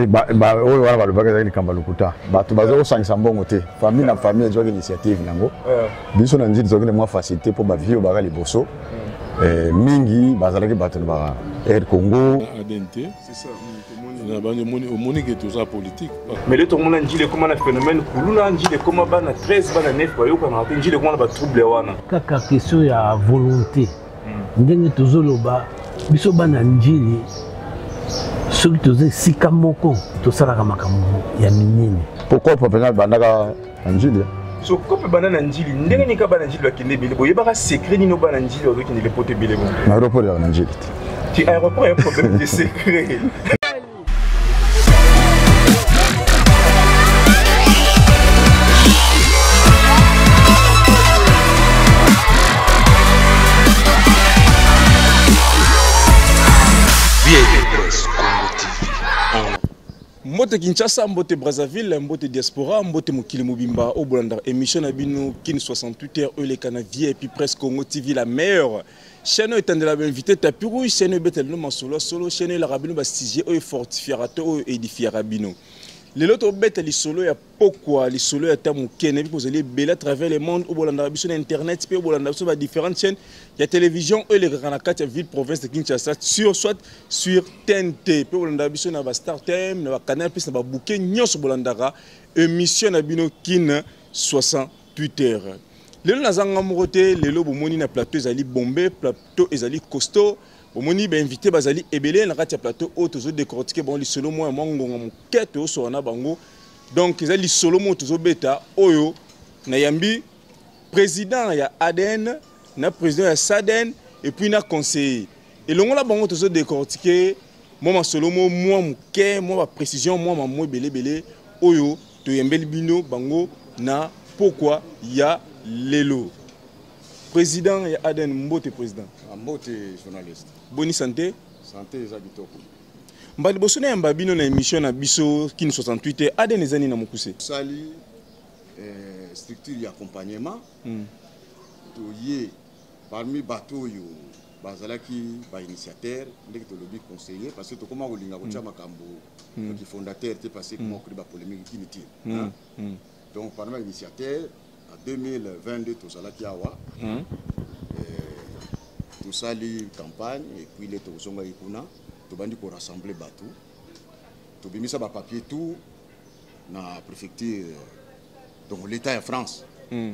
oyo wana balobaki ezalaki likambo ya lokuta bato baza kosangisa mbongo te famille na famille ezwaki initiative yango eh. biso na nzili ezwaki na mwa facilité mpo bavie obaka liboso hmm. eh, mingi bazalaki bato na ba air congo omoni ke toza politike mais le tomona njili ekoma na phénomène kuluna njili ekoma bana 13 bana 9 bayokanaka te njili ekoma na batrouble wana kaka question ya volonté ndenge tozoloba biso bana njili soki toza esika moko tosalaka makambo ya minene pokopo mpenza bandaka na njili soko mpe bana na njili ndenge nini ka bana njili bakende ebele boyebaka secret nini bana njili bazokende lepoto ebele bo na aéroport ya na njili te ti aéroport ya problème de secret mbote kinshasa mbote brazzaville mbote diaspora mbote mokili mobimba oyo bolandaka émission na bino kin 68 heure oyo elekana vip presse congo tv la meilleure chaîne oyo etandela bainvité tapi rouge chaîne oyo ebetela bino masolo ya solo chaîne oyo elaka bino basujet oyo efortifiaka to oyo edifiaka bino lelo tobeta lisolo ya pokwa lisolo ya ta moke nayebi kozali ebele à travers le monde oyo bolandaka biso na internet mpe oyo bolandaka biso ba différentes chaînes ya télévision oyo elekaka na kati ya ville province de kinshasa sur soit sur tnt mpe bolandaka biso na ba star time na ba canal plus na ba bouquet nyonso bolandaka émission na bino kin 60 Twitter. Lelo naza nga moko te, lelo bomoni na plateau ezali bombe, plateau ezali costaud. Bomoni ba invité bazali ebele na kati ya plateau oyo tozo décortiquer bango lisolo moya mwa ngonga moke toyosola na bango. Donc ezali lisolo moyo tozo beta oyo na yambi président ya ADN na président ya SADN et puis na conseiller. Elongo na bango tozo décortiquer mwa masolo mo mwa moke mwa baprecision mwa mamwe belebele oyo toyembeli bino bango na pokwa ya lelo président ya aden mbote président ah, mbote journaliste boni santé santé eza kitoko mba liboso nayamba bino na émission na biso kin 68 te aden eza nini na mokuse sali eh, structure ya accompagnement mm. toye Parmi bato oyo bazalaki ba initiateur ndenge tolobi conseiller parce que tokoma kolinga kotya mm. makambo mm. ki fondateur te parce que mm. mokri ba polémique inutile hein? donc parmi ba initiateur en 2022 tozalaki awa euh, tosali campagne et puis le tokozongaki kuna tobandi korassembler bato tobimisa bapapier tout na préfecture donc l'état ya france mm.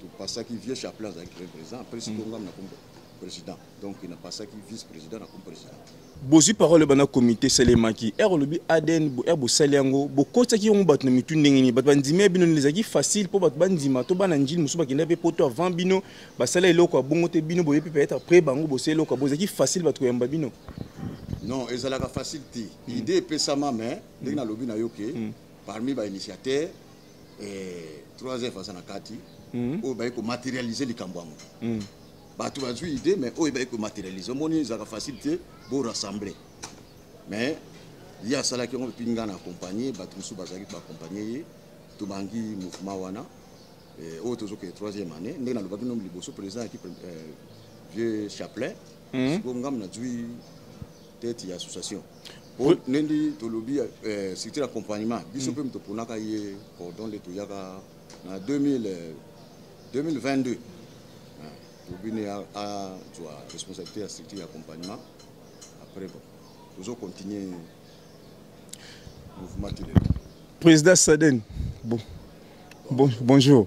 topasaki vieux chaplin azalaki premier président après sikoyo mm. ngam na kombo président donc il n'a pas ça qui vice président na comme président bozwi parole bana komite esalemaki ere olobi adn ere bosali yango bokotisaki yango bato na mitu ndenge nini bato bandimi ya bino nini ezalaki facile mpo bato bandima to bana njili mosusu bakenda mpe poto avant bino basala eloko ya bongo te bino boye mpe peut-être après bango bosala eloko ya bongo ezalaki facile bato koyamba bino non ezalaka facile te hmm. idée epesama mais ndenge hmm. nalobi na yo ke hmm. parmi bainitiateur 3f aza na kati hmm. oyo baye komaterialise likambo yango hmm. bato bazwi idée mais oyo baye komaterialise omoni ezalaka facile te borassemble mais ye asalaki yango epi ngai na accompagne bato mosusu bazalaki baakompagne ye tobangi mouvement wana eh, oyo tozokende troisième année ndenge nalobaki nomi liboso président yaki eh, vieux chaplain hmm. siko ngambo nazwi tete ya association po ndendi tolobi eh, structure d'accompagnement biso mpe mm. toponaka ye cordon nde toyaka na 2000 2022 eh, ah, tobini azwa responsabilité ya structure d'accompagnement après bon tozo continuer mouvement telele président saden bon, bon bonjour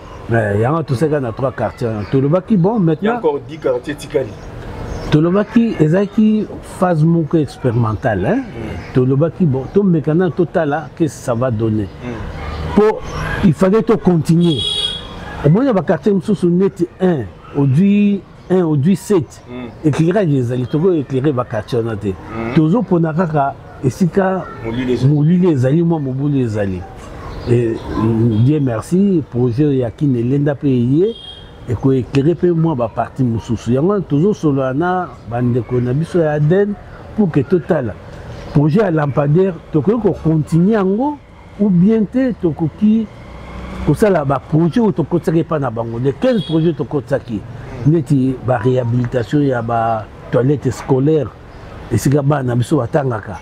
Eh, yango toseka na trois quartier wana tolobaki bon maintnantolobaki ezalaki phase moko expérimentale hein? Mm. tolobaki bon tomeka nano totala qu'est-ce que ça va donner mpo mm. il fallait tocontinue omoni na baquartier mosusu neti 1 ozwi 1 au 17 mm. éclairage ezali toko éclairer ba quartier wana te mm. tozo pona kaka esika molili ezali mwa mobulu ezali mm, dieu merci projet ya kine elenda mpe eye ekoeklere mpe mwa baparti mosusu yango wana tozosolola na bandeko na biso ya aden pour ke totala projet ya lampadaire tokoki kokontinue yango ou bien te tokoki kosala baprojet oyo tokotisaki epai na bango de 15 projet tokotisaki neti baréhabilitation ya batoilette scolaire esika bana na biso batangaka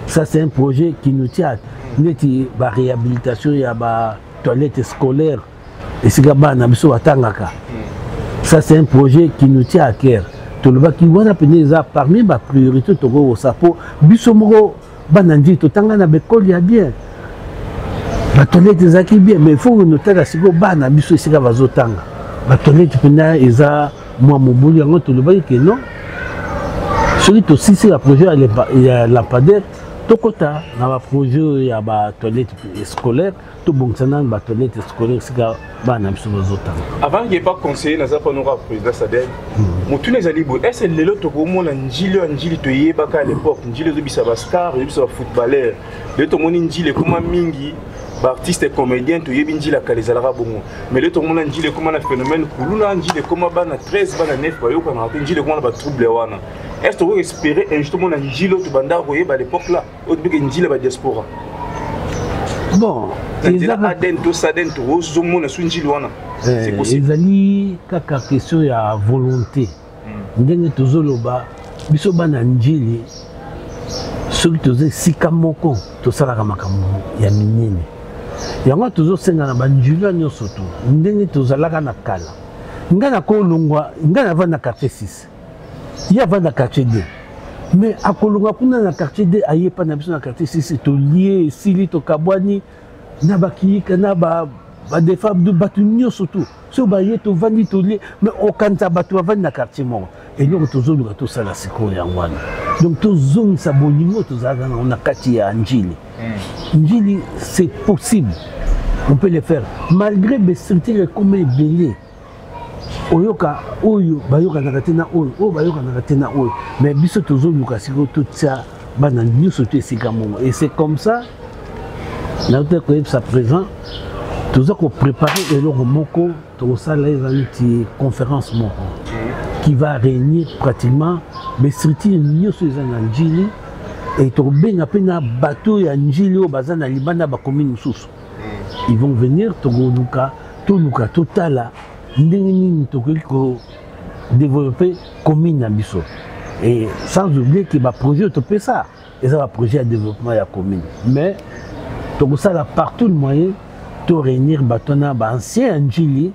ça c'est un projet qui nous tient neti baréhabilitation ya batoilette scolaire esika bana na biso batangaka ça c'est un projet qui nous tient à cœur tolobaki wana mpenza eza parmi bapriorité tokoki kosala mpo biso moko bana ndii totanga na bekoli ya bien batonete ezalaki bien mais faut notala sikoyo bana biso esika bazotanga batonete mpena eza mwa mobulu yango tolobaki ke non soki tosisi ya projet ya lampadaire tokɔta na baprojet oyo ya batoilette scolaire tobongisa nanu batoilette scolaire sika bana na biso bazotanga avant ke pas conseiller naza mpo noko président sadel hmm. motuna ezali boye ese lelo tokomona njili ya njili toyebaka à l'époque njili ezobisa bastar ezobisa bafootballeur lelo tomoni njili ekoma mingi baartiste comédien toyebi njila kala ezalaka bongo mais lelo tokomona njila ekoma na phénomène kuluna njila ekoma bana 13 bana 9 bayokanaka te njila ekoma na batrouble wana est ce tokoki espérer un jour tomona njila oyo tobandaka koyeba à l'époque là odbike njila ba diaspora bon aden to saden to ozomona so njili wana eh, ezali kaka question ya volonté hmm. ndenge tozoloba biso bana njili soki toza esika moko tosalaka makambo ya minene yango tozosenga na banjulio nyonso to ndenge tozalaka na kala ngai nakolongwa ngai navanda quartier 6 ye avanda quartier de mais akolonga kuna na quartier de aye epai na biso na quartier sisi tolie esili tokabwani na bakiyika na ba badefa bato nyonso tu soki baye tovandi tolie me okanisa bato bavandi na quartier moko eloko tozoluka tosala sikoyo yango wana donc tozongisa bolingo tozalaka nango na kati ya njili hmm. njili c'est possible on peut le faire malgré bestructure ekoma ebele oyoka oyo bayokanaka te na oyo oyo bayokanaka te na oyo mais biso tozoluka sikoyo totya bana nyonso to esika moko et c'est comme ça nauta koyebisa présent toza koprépare eloko moko tokosala eza neti conférence moko qui va réunir pratiquement bastructure nyonso eza na njili e tokobenga mpe na bato ya njili oyo baza na libanda bakomi mosusu ils vont venir tokoluka toluka totala ndenge nini tokoki ko développer commune na biso et sans oublier que baprojet topesa eza baprojet ya développement ya commune mais tokosala partout le moyen to réunir bato wana baancien ya njili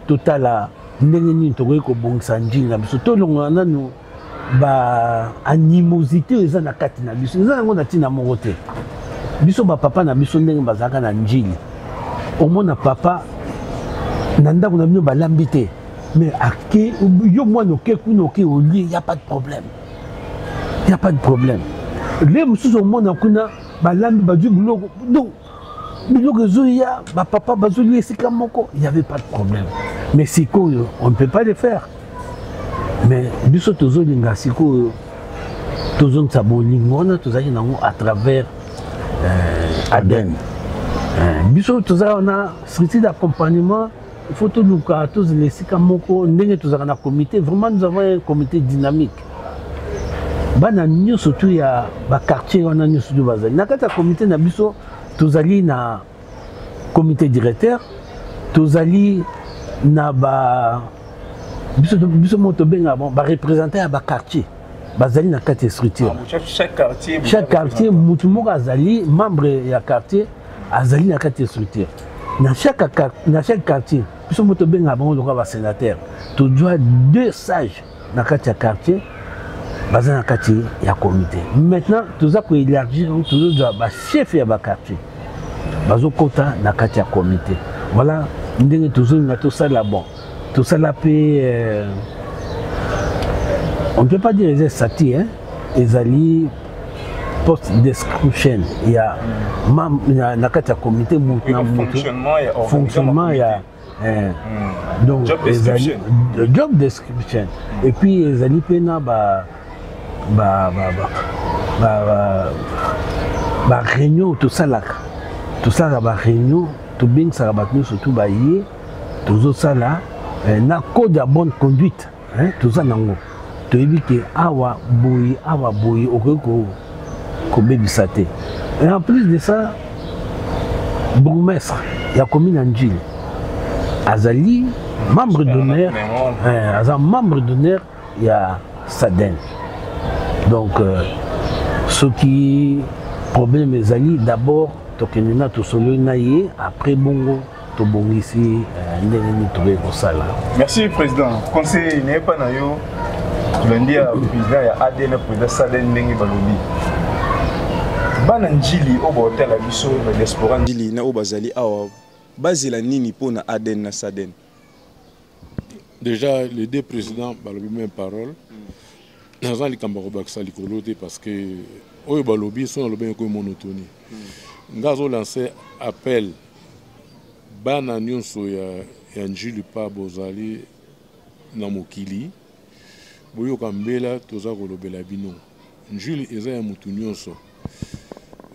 totala ndenge nini tokoki kobongisa njili na biso tolongola nanu ba animosité oyo eza na kati na biso eza yango na ntina moko te biso bapapa na biso ndenge bazalaka na njili omona papa na ndako na bino balambi te mais ake yo mwana oke kuna oke olie ya pas de problème ya pas de problème le mosusu omona kuna balambi bazwi biloko donc biloko ezoya bapapa bazolia esika moko il y avait pas de problème mais sikoyo on ne peut pas le faire mais biso tozolinga sikoyo tozongisa bolingo wana tozalaki nango à travers euh, aden euh, biso tozalaka na structure d'accompagnement il faut toluka tozela esika moko ndenge tozalaka na comité vraiment nous avons un comité dynamique bana nyonso tu ya baquartier wana nyonso tu bazali na kati ya komite na biso tozali na komite directeur tozali na ba biso, biso moko tobengaka bon barepresentant ya baquartier bazali na kati ya structure ah, chaque quartier motu moko azali membre ya quartier azali na kati ya structure na chaque, na chaque quartier biso moko tobengaka bango lokola basénateur tozwa deux sages na kati ya quartier baza na kati ya comité maintenant toza koélargir yango tozozwa bachef ya baquartier bazokɔta na kati ya comité voilà ndenge tozolinga tosala bon tosala mpe euh, on ne peut pas dire eza estati hein? ezali poste description ya na kati ya comité motu na motu fonctionnement ya Eh. Hmm. donc job description. Ezali, job description et puis ezali mpe na ba ba ba ba ba, ba, ba réunion tosalaka tosalaka ba réunion tobengisaka bato nyonso tu baye tozosala eh, na code ya bonne conduite hein toza nango toyebi ke awa boyi awa boyi okoki ko kobebisa te et en plus de ça bourgmestre ya commune ya njili azali membre d'honneur eh, aza membre d'honneur ya saden donc euh, soki problème ezali d'abord tokende na tosololi na ye après bongo tobongisi eh, ndenge nini tokoki kosala merci président conseil nayepa na yo tolandi ya président ya adn président salen ndenge balobi bana njili oyo baotala biso na diaspora njili na oyo bazali awa bazela nini mpo na adn na saden déjà les deux présidents balobi même parole naza likambo ya kobakisa likolo te parce que oyo balobi so nalobi yango monotonie nga azolanse appel Bana nionso ya ya Ndjili epa bozali na mokili boyoka mbela toza kolobela bino Ndjili eza ya mutu nionso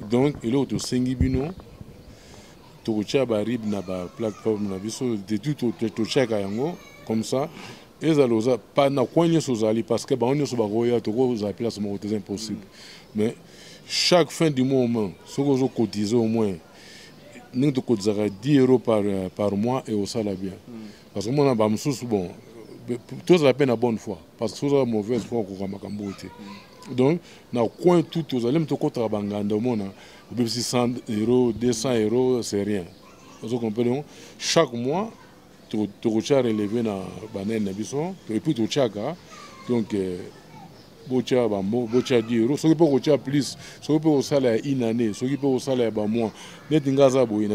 donc eloko tosengi bino tokotia ba rib na ba plateforme na biso de tout totiaka yango comme ça ezala oza pa na coin nyonso ozali parce que bango nyonso bakoya tokozala place moko te eza impossible mais chaque fin du mois au moins soki ozokotise au moins ndenge tokotisaka 10 euro par, euh, par mois ekosala bien mm. parce que mona bamosusu bon tozala mpe na bonne foi parce que soki ozala mauvaise foi okoka makambo oyo te mm. donc na coin tout tozali mpe tokotaka banganda omona obebisi 100 euro 200 euro c'est rien ozo comprendre chaque mois tokotya releve na banene na biso epuis totyaka donc euh, botya bamo botya di euro soki mpe kotya plus soki mpe kosala ya une année soki mpe kosala ya bamois neti ngai aza boye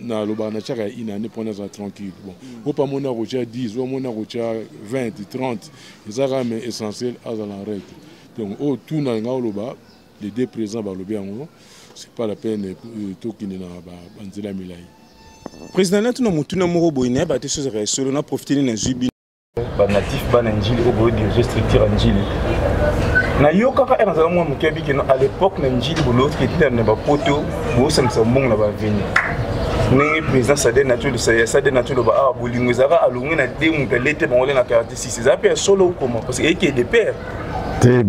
nalobaka natyaka ya une année mpo naza tranquille bon mm. ope amoni akotya 10 omoni akotya 20 30 eza kaka mais essentiel azala en règle donc oyo oh, tuna ngai oloba Les deux présidents balobi yango, c'est pas la peine euh, tokende na banzela milai. Président na tuna motuna moko boye na ba te soza ka solo na profiter na zubi. Ba natif ba na njili au boye diriger structure en njili. Na yo kaka ena zala mwa moke bi keno à l'époque na njili bolo ki tita na ba poto bo samsa mbongo na ba vini. ndenge président sade natolosa sade natoloba awa bolingo ezalaka alongi na de moto alete bango le na 46 eza mpe ya solo okoma parce que eyeke de père te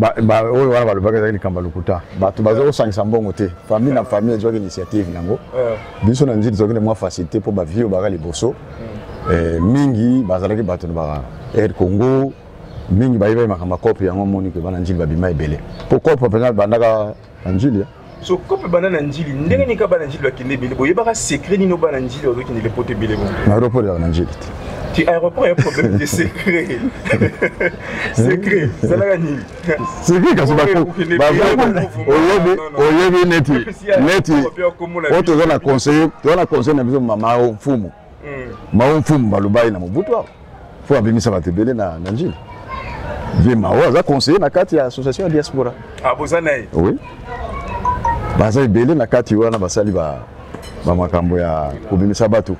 oyo wana balobaki ezalaki likambo ya lokuta bato baza kosangisa mbongo te famille na famille ezwaki initiative yango eh. biso na nzili tozwaki na mwa facilité mpo bavie oyo baka liboso hmm. eh, mingi bazalaki bato na ba air congo mingi bayebaki makambo ya cope yango omoni ke bana nzili babima ebele mpo cope mpenza bandaka na njili eh? so kope bana na njili ndenge nini ka bana njili bakende ebele boyebaka secret nini obana njili ozokende lepoto ebele bongo na aéroport yaka na njili te ti aéroport ya problème de secret secret ezalaka nini secret kasi oyebi neti neti oyo toza na conseil toza na conseil na biso mama mfumu hmm. mao mfumu baloba ye na mobutu awa mpo abimisa bato ebele na njili vie mao aza conseiller na kati ya association ya diaspora ah, boza na ye oui baza ebele na kati wana basali bamakambo ya kobimisa bato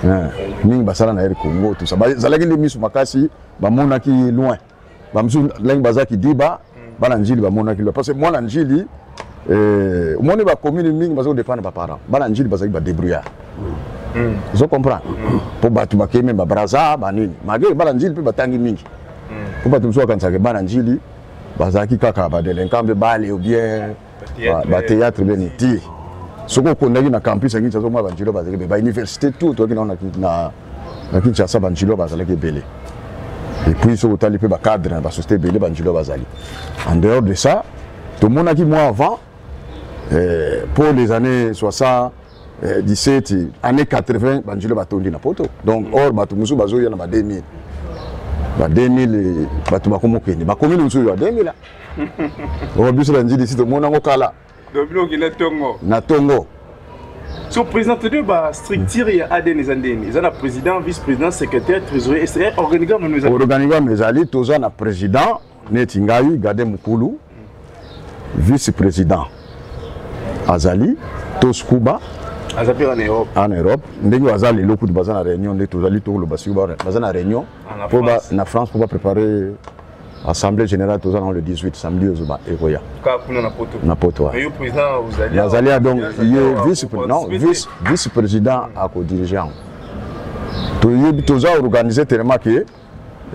eh, mingi basala na air congo tusa bazalaki nde miso makasi bamonaki loin bamosusu ndenge baza kidiba mm. bana njili bamonaki lwa parce que mwana njili eh, omoni bacommune mingi baza kodependre baparent bana njili bazali badebrouillard mm. ozo comprendre mpo mm. bato bakei meme babraza banini malgre bana njili mpe batangi mingi mpo bato mosusu bakanisaka bana njili bazalaki kaka badelinquant mpe bale obien ba théâtre bien iti soki okondaki na campus ya kinshasa omwa banjilo bazalaki ebele bauniversité tout toyaki nao na kinshasa banjilo bazalaki ebele epuis soki otali mpe bacadre na basociété ebele banjilo bazali en dehors de ça tomonaki mwa avant eh, pour les années 60 eh, 17 année 80 banjilo batondi na poto donc or bato mosusu bazoya na ba 2000 ba 2000 bato bakomokende bakomi na mosusu ya 2000 Oyo biso na ndjili si tomona ngo kala. Donc bino okenda tongo. Na tongo. So président de ba structure ya ADN eza ndeni. Eza na président, vice-président, secrétaire, trésorier, c'est organigramme nous avons. Organigramme ezali toza na président neti ngai Gade Mukulu. Vice-président azali Toskuba aza mpe en europe en europe ndenge baza lelo kutu baza na réunion nde tozali tokoloba siko baza na réunion ah, na france mpo baprépare assemblée générale toza nango le 18 samedi oyo zoba ekoya na poto nazali ya donc ye vice non vice vice président akodirige yango toyebi toza organise tellement ke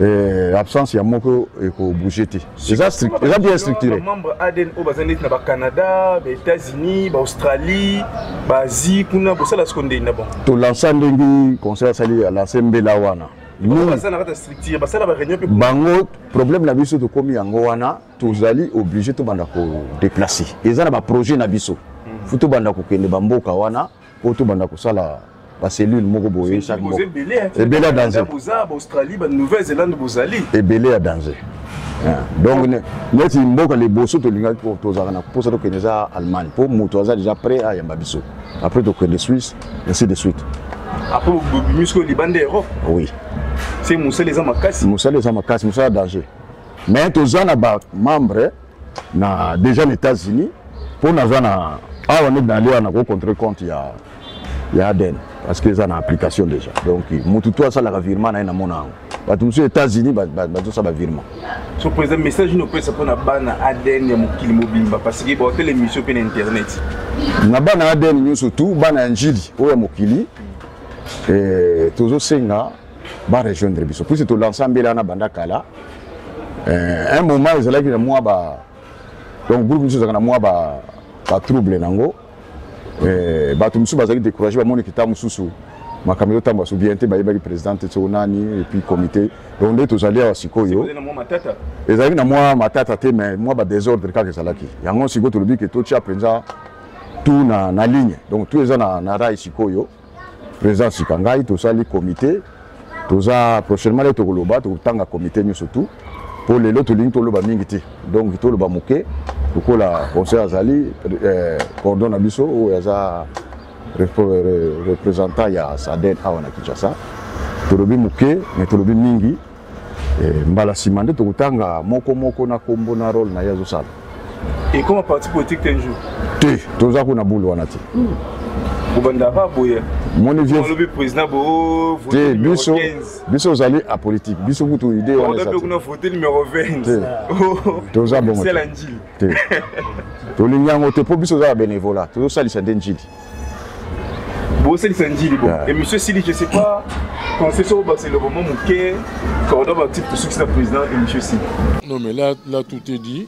eh, absence ya moko ekobouge te eza bien structuré membre adn oyo baza neti na bacanada baétats-unis baaustralie baasie kuna bosala siko ndeni na bango tolansa ndenge conseil asali alase mbela wana bango problème na biso tokomi yango wana tozali oblige tobanda kodeplace eza na baprojet na biso hmm. fo tobanda kokende bamboka wana mpo tobanda kosala bacellule moko boye chaque moko ebele ya danger ebele ya danger donc neti mboka liboso tolingaki tozalaka na mposa tokende eza allemagne mpo moto aza déjà prêt ayamba biso après tokende suisse ainsi de suite après bobimi sikoyo libanda europe oui se mosala eza makasi mosala eza makasi mosala danger mais toza na bamembre na déjà na états-unis mpo naza na awa nde nali wana kocontre compte ya ya aden parce que eza na application déjà donc motu to asalaka virement na ye namona yango bato mosusu états-unis bazosala bavirement so président message nini opesa mpo na bana adn ya mokili mobimba parce que baotele émission mpe na internet na bana adn nyonso tu bana ya njili oyo ya mokili eh, tozosenga barejoindre biso puisi tolansa mbela wana banda kala eh, un moment ezalaki na mwa ba donc groupe mosusu ezalaka na mwa ba batrouble na yango eh, bato mosusu bazali décourage bamoni kita mosusu makambo ezotambola so bien te bayebaki président te soko nani epuis comité donc nde tozali awa sikoyo ezalaki na mwa matata te mais mwa badésordre kaka ezalaki yango sikoyo tolobi ke totya mpenza tout na, na ligne donc tout eza na, na rai sikoyo Président Sika ngai tosali comité toza prochainement le tokoloba tokotanga comité nyoso tout mpo lelo tolingi toloba mingi te donc toloba moke lokola conseil azali eh, cordon na biso oyo aza représentant ya saden awa na kinshasa tolobi moke mais tolobi mingi Eh, mbala nsima nde tokotanga moko moko na kombo na role na ye azosala ekoma parti politique te jour te toza kuna bule wana te kobanda ba boye moni violobi président bo oh, te biso biso ozali apolitique biso kutu idée wana eza kuna vote numéro 20 toza bongo te tolingi yango te mpo biso oza ya benevola tozosalisa nde njili bosalisa njili bo émission esili je sais pas conseil soko bakisa eloko mwa moke cordo baactif tosukisa président émission esili non mais là, là tout est dit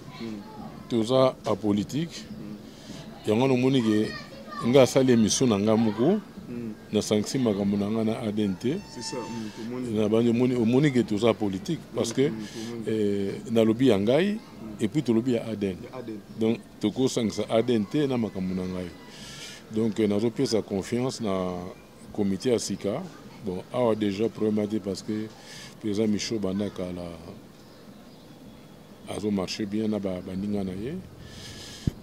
toza apolitique yango nomoni ke nga asali émission na nga moko nasangisi makambo na nga na adn te omoni ke toza politique parce que nalobi ya ngai epuis tolobi ya adn donc tokosangisa adn te na makambo na ngai donc euh, nazopesa confiance na comité ya sika bon awa déjà problème te parce que président michaud banda kala azomarche bien na baninga na ye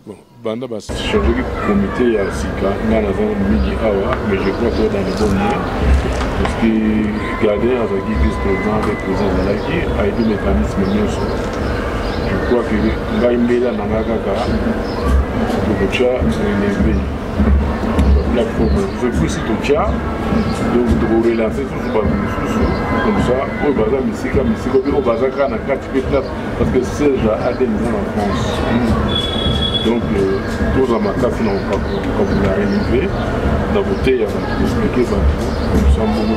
bon banda bachangeaki comité ya sika ngai naza mingi awa mais je crois que dans le bon lien parce que garder azalaki vice président mpe président azalaki ayebi mécanisme nyonso Je crois que ngai mbela na ngai kaka tokotya elembe plateforme mosusu epuisi totya donc tokorelance susu bato mosusu comme ça oyo baza misika misika mpe oyo baza kaka na kati mpe place parce que serge aden eza na france donc euh, toza makasi na kokabola relevé na koteya bato koexplike bato comme ça mbongo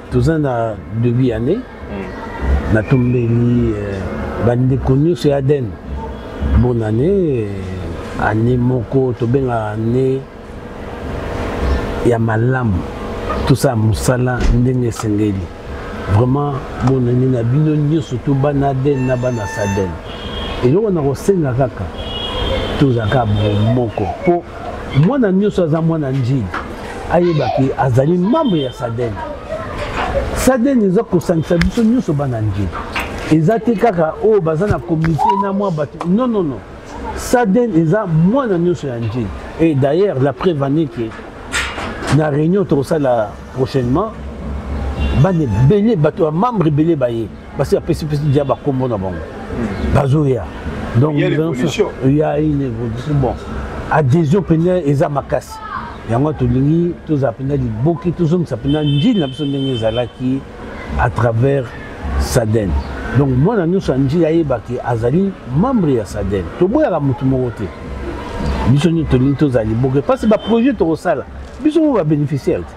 toza na debut ya année hmm. natombeli eh, bandeko nyonso ya aden bonne année eh, année moko tobenga année ya malamu tosala mosala ndenge esengeli vraiment bonne année na bino nyonso to bana aden na bana saden eloko na kosenga kaka tozalaka moko mpo mwana nyonso aza mwana njili ayeba ke azali membre ya saden saden eza kosangisa biso nyonso bana njili eza te kaka oyo oh, baza na komite na mwa bato non non non saden eza mwana nyonso ya njili et d'ailleurs la preuve ane ke na réunion tokosala prochainement bana ebele bato ya membre ebele baye basi apesi pesi dia bakombo na bango hmm. bazoya donc ya une évolution bon adhésion mpenza eza makasi yango tolingi tozala mpenza liboki tozongisa mpenza njili na biso ndenge ezalaki à travers saden donc mwana nyonso ya njili ayebaki azali membre ya saden toboyaka motu moko te biso nini tolingi tozala liboki mpasi baprojet tokosala biso moko babénéficiaire te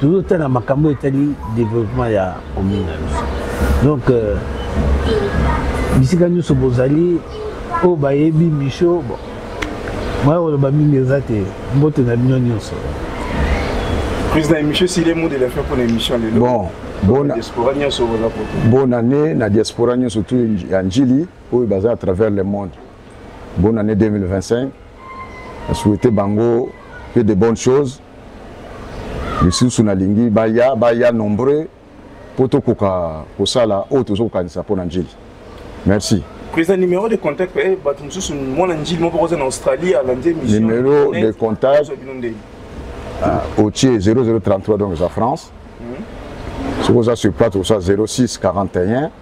tozotala makambo etali développement ya commune na biso donc euh, bisika nyonso bozali oyo bayebi misho bon moya koloba mingi eza te mbote na bino nyonso président émission sile mot de la fin mpona émission lelo bon bonne année na diaspora nyonso tu ya njili oyo baza à travers le monde bonne année 2025 na souhaite bango que de bonnes choses lisusu nalingi baya baya nombreux mpo tokoka kosala oyo toza kokanisa mpo na njili merci président numéro de contact eh, bato mosusu mwana njili moko oza na australie alandi émission numéro de contact ah, otie 0033 donc eza france mhm. soki oza sur plate osa 06 41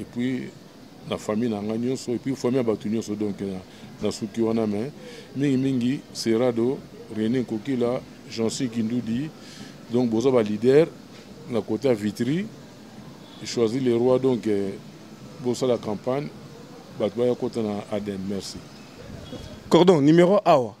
et puis na famille na ngai nyonso et puis famille ya bato nyonso donc nasuki wana mais mingimingi serado rené kokila jansi kindudi donc boza baleader na kota vitri choisi le roi donc eh, bosala campagne bato baya kota na adem merci cordon numéro awa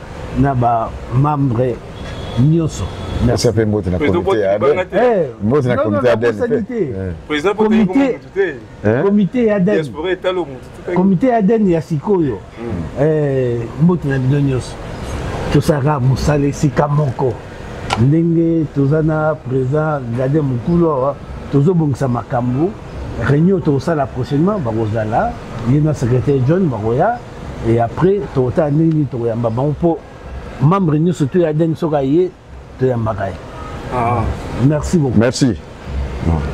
na ba membre nyonso merci ape mbote na comité ya aden eh, mbote na comité ya aden président comité comité ya aden comité ya aden ya sikoyo hmm. eh, mbote na bino nyonso tosalaka mosala esika moko ndenge toza na président gade mokulu awa tozobongisa makambo réunion tokosala prochainement bakozala ye na secrétaire john bakoya et après tokotala ndenge nini tokoyamba bango mpo membre nyonso to ya deng soki aye toyambaka ye ah. merci beaucoup merci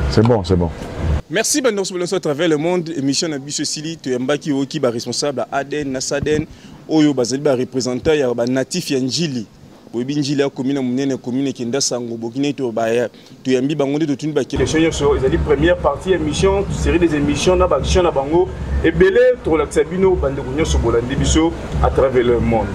c'est bon c'est bon merci bandeko soki nyonso à travers le monde émission na biso esili toyambaki oyoki baresponsable ya aden na saden oyo bazali barepresentant ya banatif ya njili boyebi njili ya komine monene komine kenda sango bokina ete baya toyambi bango nde totuni bakelection nyonso ezali première partie ya émission série des émissions na baaction na bango ebele tokolakisa bino bandeko nyonso bolandi biso à travers le monde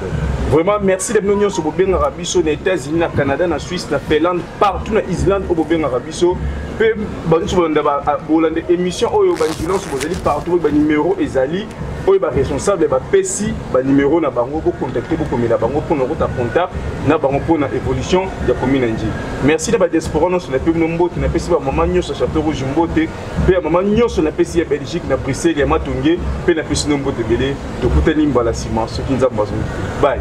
vraiment merci na bino nyonso bobengaka biso na états-unis na canada na suisse na finlande partout na islande oyo bobengaka biso mpe banyonso bolanda bolanda émission oyo banjulance bozali partout banimero ezali oyo baresponsable bapesi banimero na bango bocontacte bokomela bango mpo na okota contact na bango mpo na évolution ya commune nji merci na badiaspora nyonso na mpe bino mbote napesi bamama nyonso ya chateau rouge mbote mpe ya mama nyonso napesi ya belgique na bruxelles ya matonge mpe napesi no mbote ebele tokutani mbala nsima soki nzambe azongi bai